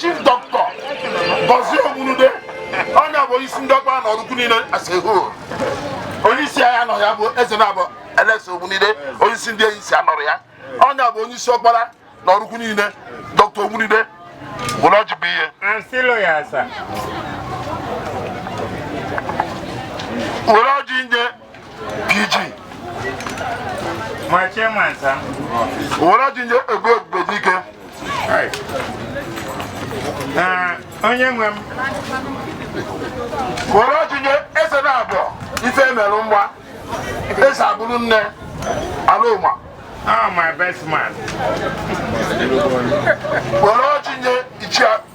chief dọkịta Gozie Ogbunude onye bụ isi ndị ọkpara na Ọraukwu niile aseho onye isi ya nọ ya bụ Ezenabọ Alex Ogbunude onye isi ndị eyisi nọrọ ya onye bụ onye isi ọkpara na Ọraukwu niile dọkịta Ogbunude bụ na ọjị bụ ihe were ọjị nje PG. My chairman, sir. Wọ́n ti yẹ egbe egbe dike. Onye nwe m. Wọ́n ti yẹ ese na abọ ife merụ mgba. Ese abụrụ nne ala ụma. Ah, my best man. Wọ́n ti yẹ ichia.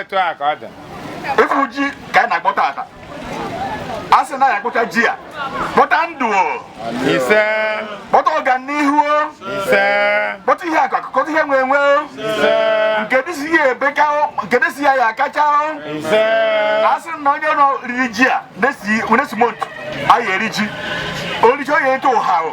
etu a ka ọ dị ịfụ ji ka anyị na-akpọta taa a sị na ya kpọta ji a kpọta ndụ o ise kpọta ọganihu o ise kpọta ihe akụ akụ kpọta ihe enwe enwe o ise nke dị si ya ebuka o nke dị si ya ya akacha o ise a sị na onye nọ riri ji a na-esi na-esi montu a ya eri ji o rie ji ọ ya eto ụha o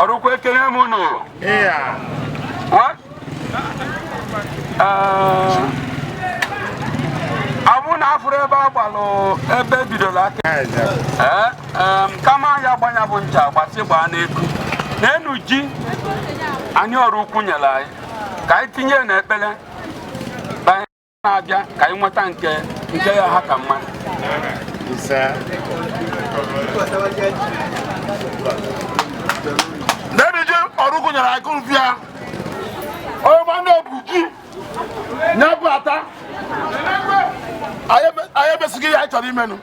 Ọraukwu ekele m unu ọ bụ na afụrụ ebe a gbalụ ebe e bidoro aka kama ya gbanya bụ ncha gbasi gbaa n'eku n'enu ji anyị Ọraukwu nyere anyị ka anyị tinye n'ekpere na-abịa ka anyị nweta nke nke ya aka mma n'iri ji Ọraukwu nyere aka bịa onye ma na-ebu ji na-ebu ata anyị emesighị ihe anyị chọrọ ime nụ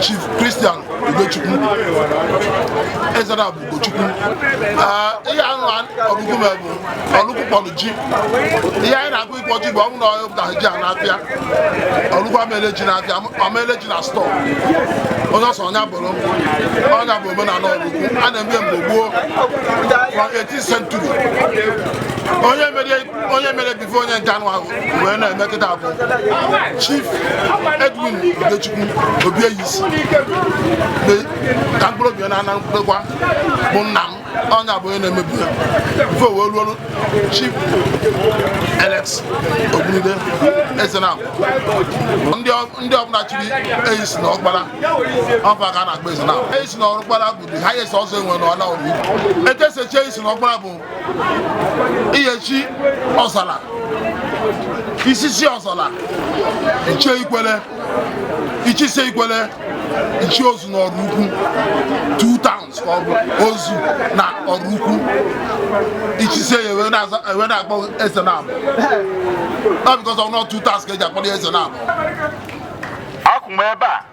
Chief Christian Ugochukwu Eze na-abụ Ugochukwu ah, ihe ahụ ọgụgụ m bụ Ọraukwu kpọrọ ji ihe anyị na-agụ ịkpọ ji bụ ọnwụ na ọhịa pụtara ji a n'afịa Ọraukwu a ma-ele ji n'afịa a ma-ele ji na stọọ onye ọ sọ nya bụrụ nya bụ omenala Ọraukwu a na-eme mgbe gboo from 18th century onye mere ife onye nke a nwa wee na-eme kịta bụ chief edwin udechukwu obieyisi ka mkpụrụ obi na ana mkpụrụkwa bụ nna m onye abụ onye na-emebu ya before o wee ruo chief alex Ogbunude eze na ndị ọbụla chiri eyisi na ọkpara ọ fa ka a na-akpọ eze na eyisi na ọkpara bụ the highest ọzọ e nwe na ọla ori ekesechi eyisi na ọkpara bụ ị ya-echi ọzala i chisie ọzala i chie ikwele i chisie ikwele i chie ozu na Ọraukwu two towns ka ọ bụ ozu na Ọraukwu i chisie ya e wee na-aza- e wee na-akpọ Ezenabọ based on two towns ka e ji akpọrọ ya Ezenabọ akwụ m ebe a